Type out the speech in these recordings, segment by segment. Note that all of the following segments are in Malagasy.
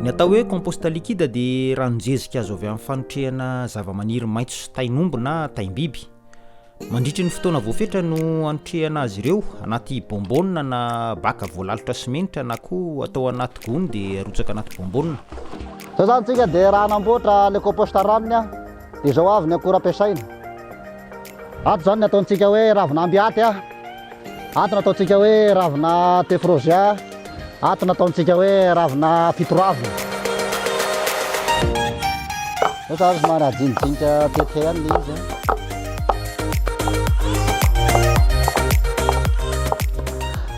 Ny atao hoe compost liquide dia ranon-jezika azo avy amin'ny fanotrehana zavamaniry maitso sy tain'omby na taim-biby. Mandritry ny fotoana voafetra no anotrehana azy ireo anaty bonbonne na baka voalalotra simenitra na koa atao anaty gony dia arotsaka anaty bonbonne. Izao izany tsika dia raha hanamboatra le compost ranony a. Izao avy ny akora ampiasaina. Ato izany ny ataontsika hoe ravin'amby aty, ato ny ataontsika hoe ravina tephrosia, ato ny ataontsika hoe ravina fitoravina. Zao zany somary ajinijinika tetika ihany ilay izy a.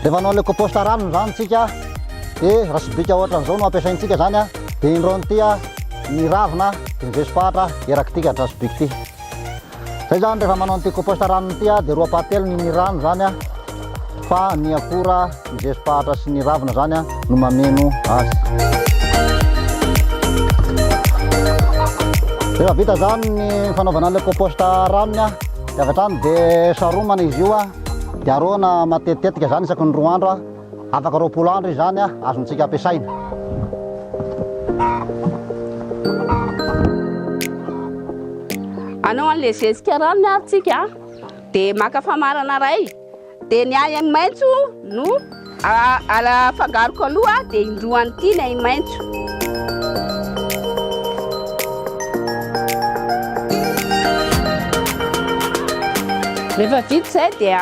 Rehefa anao ilay compost ranony izany tsika dia raha sobika ohatran'izao no ampiasaintsika izany a, dia indroan'ity a. ny ravina de miveso fahatra eraky ty kadraso biky ty zay zany rehefa manao an'ity compost ranony ity dia roa pahatelo ny ny rano zany a fa ny akora miveso fahatra sy ny ravina zany a no mameno azy rehefa vita zany ny fanaovana an'ilay compost ranony a dia avy hatrany dia saromana izy io a dia aroana matetitetika zany isaky ny roa andro a Afaka roapolo andro izany a, azontsika ampiasaina. Anao an'le zezika ranony ary tsika a. Dia maka famarana iray. Dia ny ahy maitso no afangaroko aloha dia indroan'ity ny ahy maitso. Rehefa vita izay dia.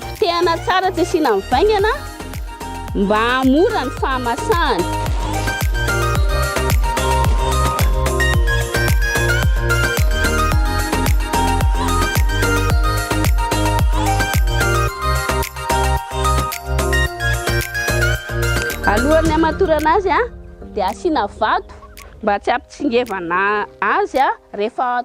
Potehana tsara tsy asiana ny vaingana mba hahamora ny fahamasahany. Alohan'ny hamatorana azy dia asiana vato mba tsy hampitsingevana azy rehefa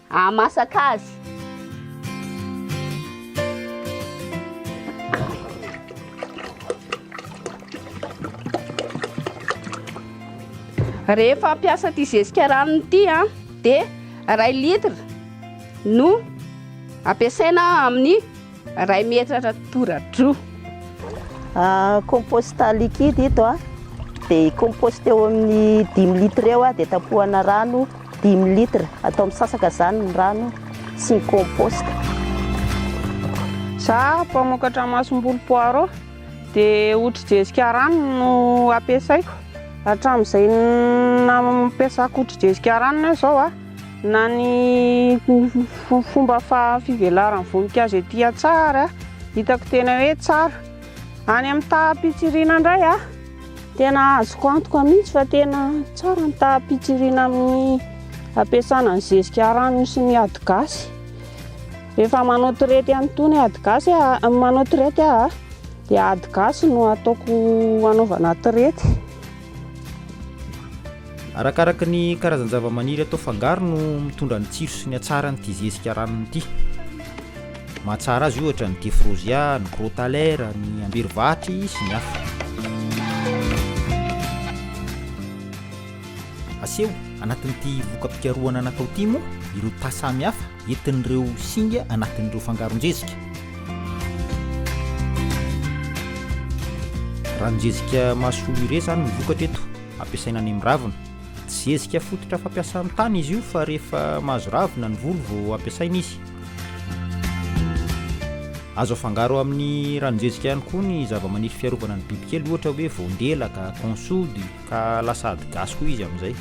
Hahamasaka azy. Rehefa hampiasa ity zezika ranony ity a, dia iray litre no ampiasaina amin'ny Iray metra ratora-droa. Compost liquide ito a. Dia compost eo amin'ny dimy litre eo dia tapohana rano dimy litre. Atao misasaka izany ny rano sy ny compost. Za mpamokatra masombolo poireau dia hotrijezika rano no ampiasaiko. Hatramin'izay nampiasako hotrijezika rano izao a. Na ny fomba fivelaran'ny voninkazo ety an-tsaha ary hitako tena hoe tsara. Any amin'ny taham-pitsirina indray tena azoko antoka mihitsy fa tena tsara ny taham-pitsirina amin'ny ampiasana ny zezika ranony sy ny ady gasy. Rehefa manao traite an'itony ady gasy, manao traite aho dia ady gasy no ataoko hanaovana traite. Arakaraka ny karazan-javamaniry atao fangaro no mitondra ny tsiro sy ny hatsarany ity zezika ranony ity. Mahatsara azy ohatra ny defrosia, ny crotalera, ny amberivatry sy ny hafa. Aseho anatin'ity voka-pikarohana natao ity moa ireo tà samihafa entin'ireo singa anatin'ireo fangaron-jezika. Ranon-jezika mahasoa urea izany no vokatra eto, ampiasaina any amin'ny ravina. Tsy zezika fototra fampiasa amin'ny tany izy io fa rehefa mahazo ravina ny volo vao ampiasaina izy. Azo afangaro amin'ny ranon-jezika ihany koa ny zava-maniry fiarovana ny bibikely ohatra hoe voandelaka, consody. Ka lasa ady gasy koa izy amin'izay.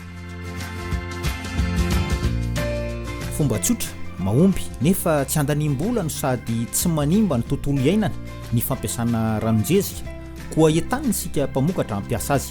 Fomba tsotra, mahomby, nefa tsy andaniam-bola no sady tsy manimba ny tontolo iainana ny fampiasana ranon-jezika. Koa entanina isika mpamokatra hampiasa azy.